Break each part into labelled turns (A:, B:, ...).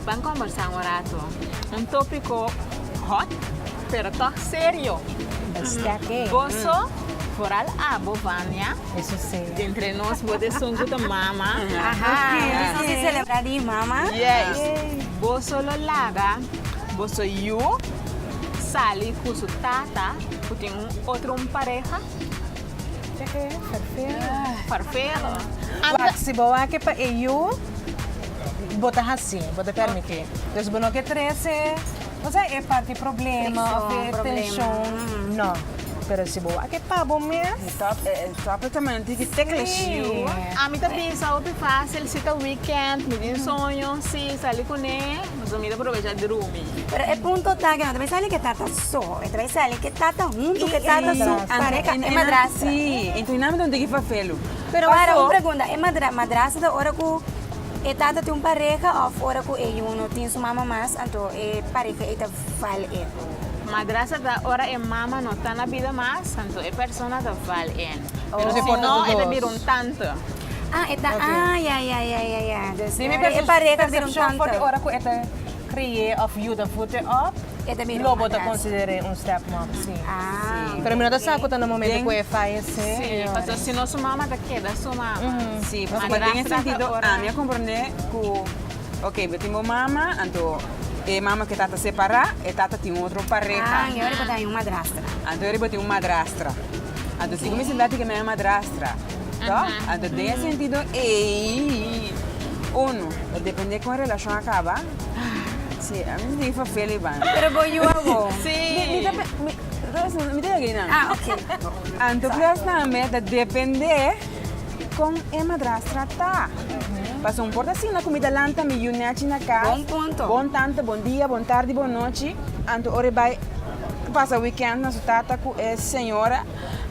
A: Ban combersa un rato. Un topico hot pero toch serio. Esta que. Boso foral abo Vania. Eso si. Entre nos bo de sun cu ta mama. Aha. Nos no tin celebra di mama. Yes. Boso lo laga boso yu sali cu su tata cu tin un otro un pareha. Esta que. Farfero. Farfero. Waak si bo wak e pa e yu. bo ta hasi bo ta permiti dus bo no ke trese osea e parti problema of de tenshon no pero si bo a ke pa bo mes ami ta bisa hopi facil si ta weekend mi tin soño si sali cune pues mi ta provecha drumi pero e punto ta ke no ta bay sali ke tata so e ta bay sali ke tata hunto ke tata su pareha e madrastra. Pero wara, un pregunta, e madrastra ta ora ku e tata tin un pareha òf ora ku e yu no tin su mama mas anto e pareha ei ta val e? Madrastra ta ora e mama no ta na bida mas anto e persona ta val e. Pero si no e ta bira un tante. Ah, e ta, ah, ya, ya, ya, ya, ya. Dus e pareha ta bira un tante. Di mi persepshon for di ora ku e ta kriye òf yuda fute òf. e ta mira un madrastra. Lo bo ta consider'é un stepmom, sí. Ah. Pero mi no ta sa cu ta na momento cu e fayecé. Sí, pasobra si no su mama ta keda su mama. Sí, pasobra. Ma den e sentido ami a comprendé cu, ok, bo tin bo mama, anto e mama cu e tata separá, e tata tin otro pareha. Ah, y ahora bo ta hay un madrastra. Anto ahora bo tin un madrastra. Anto si cu mi sinta tin cu mi a hay un madrastra, to? Anto den e sentido ei, uno, ta dependé con e relacion a caba. Sí, a mi tin fafele i banda. Pero bo yu awor. Sí. Mi ta pe- mi- Ros, mi ta yag'ey nan. Ah, ok. Anto Cruyff tambe ta depende con e madrastra ta. Paso un por ta siña cu mi ta lanta mi yu nechi na cas. Bon punto. Bon tante, bon dia, bon tardi, bon nochi. Anto ora e bay pasa weekend na su tata cu e señora.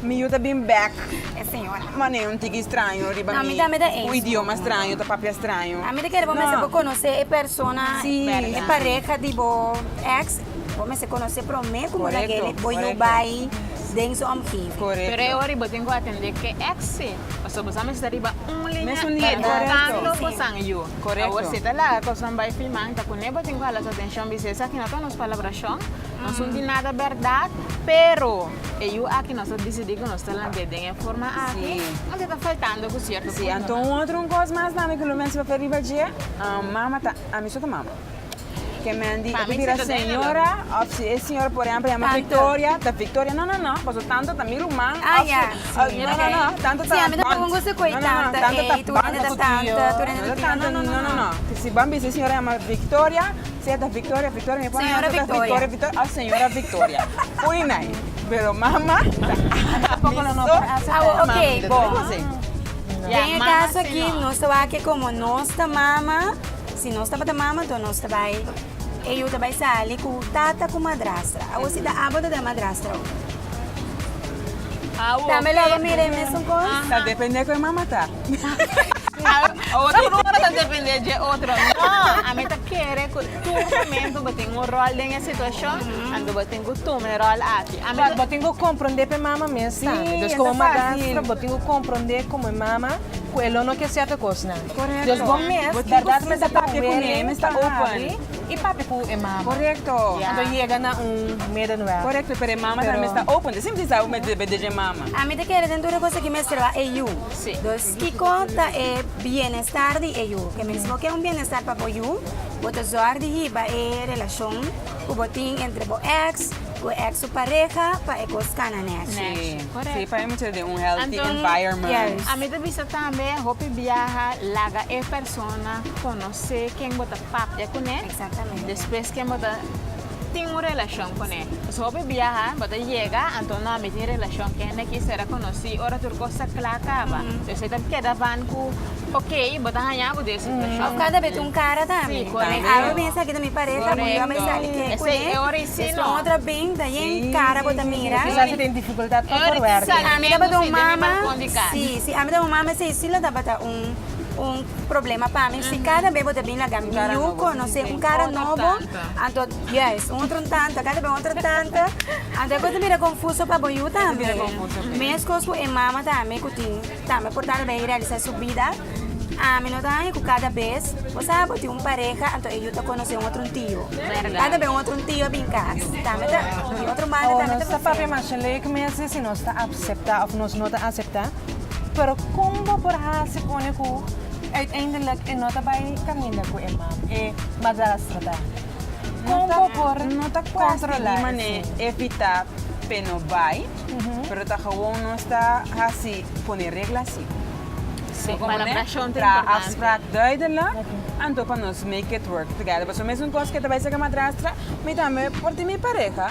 A: Mi yu ta bin bek. E señora mane un tiki straño riba mi. Un idioma straño, ta papia straño. A mi ta kere bo mester bo konosé e persona, e pareha di bo ex. Bo mester konosé promé ku bo na geni bo yu bai den su omgeving. Pero e ora bo tin ku atendé ke ex ei, pasobra bo sa mester ta riba un liña ei bukando kosan yu. Awor si e ta laga kosnan bai fiman, ta kuné bo tin ku hala su atenshon bisé esaki no ta un spalabrashon, no sun di nada bèrdat, pero. E yu aki nos a disidí ku nos ta lank'é den e forma aki, pasobra e ta faltando ku sierto punto. Si, anto un otro un kos mas tambe ku lo mense papia riba dje, mama ta, ami so ta mama. Ke Mandy a bira señora òf si e señora por ehèmpel yama Victoria, ta Victoria, no no no, pasobra tanto ta mi ruman òf si, no no no, tanto ta bònt, no no no, tanto ta banta ku tio, no ta tanta, no no no, si ban bisa e señora yama Victoria. Si e ta Victoria, Victoria, mi por a Señora Victoria. Victoria, Victoria, oh Señora Victoria. Ui nai, pero mama ta Anta poco lo no por a acepta Awo, e mama, oké, mi ta bon. duna conseho. Den Ya, e mama kaso aki, señor. nos ta wak ke komo nos ta mama, si nos tabata mama, enton nos ta bai, e yu ta bai sali ku tata ku madrastra. Awo si ta abo ta den madrastra awo. Awo, Tambe lo oké. abo mira e mesun kos? Ta depende ku e mama ta. Otro no ora ta depende dje otro. No, a mi ta kere ku tur momento bo tin un ròl den e situashon, anto bo tin ku tuma e ròl aki. A mi ta. Bo tin ku komprondé pa e mama mes tambe. Pues komo madrastro bo tin ku komprondé komo e mama ku e lo no kier sierto kosnan. Korekto. Pues bo mes, bèrdat bo mes a papia ku he, mes ta open i papia ku e mama. Korekto. Anto yega na un meda nuel. Korekto, pero e mama tambe mes ta open. Simpel asina bo debe dje e mama. A mi ta kere den tur e kos aki mester a yu. Dus kiko ta e bienestar di e yu? Ke mes bo ke un bienestar pa bo yu, bo ta zòrg di hiba e relashon ku bo tin entre bo èks ku e èks su pareha pa e kos kana nèchi. Anto, ami ta bisa tambe hopi biaha laga e persona konosé ken bo ta papia kuné, despues ken bo ta. tin un relacion con e. Nos hopi biaha bo ta yega anto no a mi tin relacion cu hende aki sera conoci ora tur cos ta cla caba esey ta keda ban cu ok bo ta haya bo den situacion. Of cada bes tin un cara tambe. Si correcto. Ey abo mesa aki ta mi pareha bo yo a bay sali ke cu e esey un otro bin ta yen cara bo ta mira. Kisa asey tin dificultad pa por werk. Si ami taba ta un mama si si ami taba un mama esey si lo tabata un un problema pa mi si cada bes bo ta bin laga mi yu conoce un cara nobo. Anto, yes, un otro tanta, kende be otro tanta. Anto e por ta mira confuso pa bo yu tambe. mira confuso, pe. Mescos cu e mama tambe cu tin, tambe por tata bay realiza su bida. Ami no ta haya cu cada bes bo sa bo tin un pareha, anto e yu ta conoce un otro tio. Verdad. Kende be un otro tio a bin cas, tambe ta, di otro banda O tambe ta nos ta papia masha lek mes di si nos ta acepta of nos no ta acepta. Pero kon bo por hasi pone ku uiteindelik e no ta bai kaminda ku e mam, e madrastra ta? Kon bo por kontrola esei? evitá p'e no bai, pero ta gewoon nos ta hasi pone regla asi. Traha afsprak duidelik, anto pa nos make it work together. Pasobra meston kos ke ta bai ser ke madrastra, mi tambe por tin mi pareha.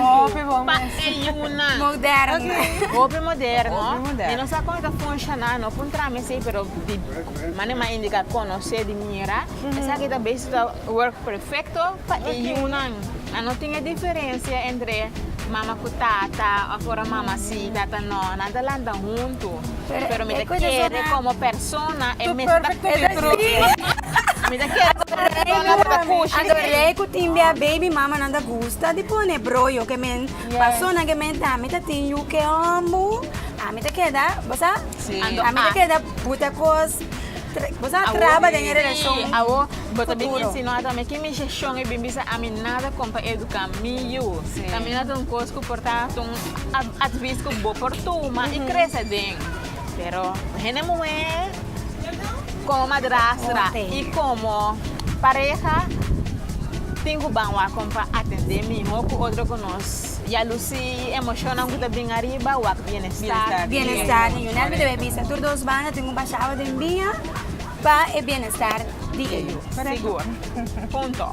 A: Hopi bon mester. Moderno. Hopi moderno. I no sa kon e ta funshoná, no por entrá mes ei, pero di manera m'a indiká, konosé di mira, esaki ta bes ta work perfekto pa e yunan. A no tin e diferensia entre mama ku tata òf ora mama sí, tata nò. Nan ta lanta huntu, pero mi ta kere komo. Persona e mes ta Adorei ku tin bia baby mama nan ta gusta di pone broyo ke men persona ke men ta mi ta tin yu ke omu ami ta keda bo sa ami ta keda buta kos bo sa traba den e relashon futuro ki mishashon e bin bisa ami nada kon pa eduka mi yu tamia ta un kos ku por ta ta un advis ku bo por tuma i krese den. Pero hende muhé komo madrastra i komo pareha tin ku ban wak kon pa atendé mihó ku otro ku nos ya lusí emoshonnan ku ta bin ariba wak bienestar di un. Bienestar di un. Nan mi debe bisa tur dos banda tin un bashada den dia pa e bienestar di ellos. Sigur. Punto.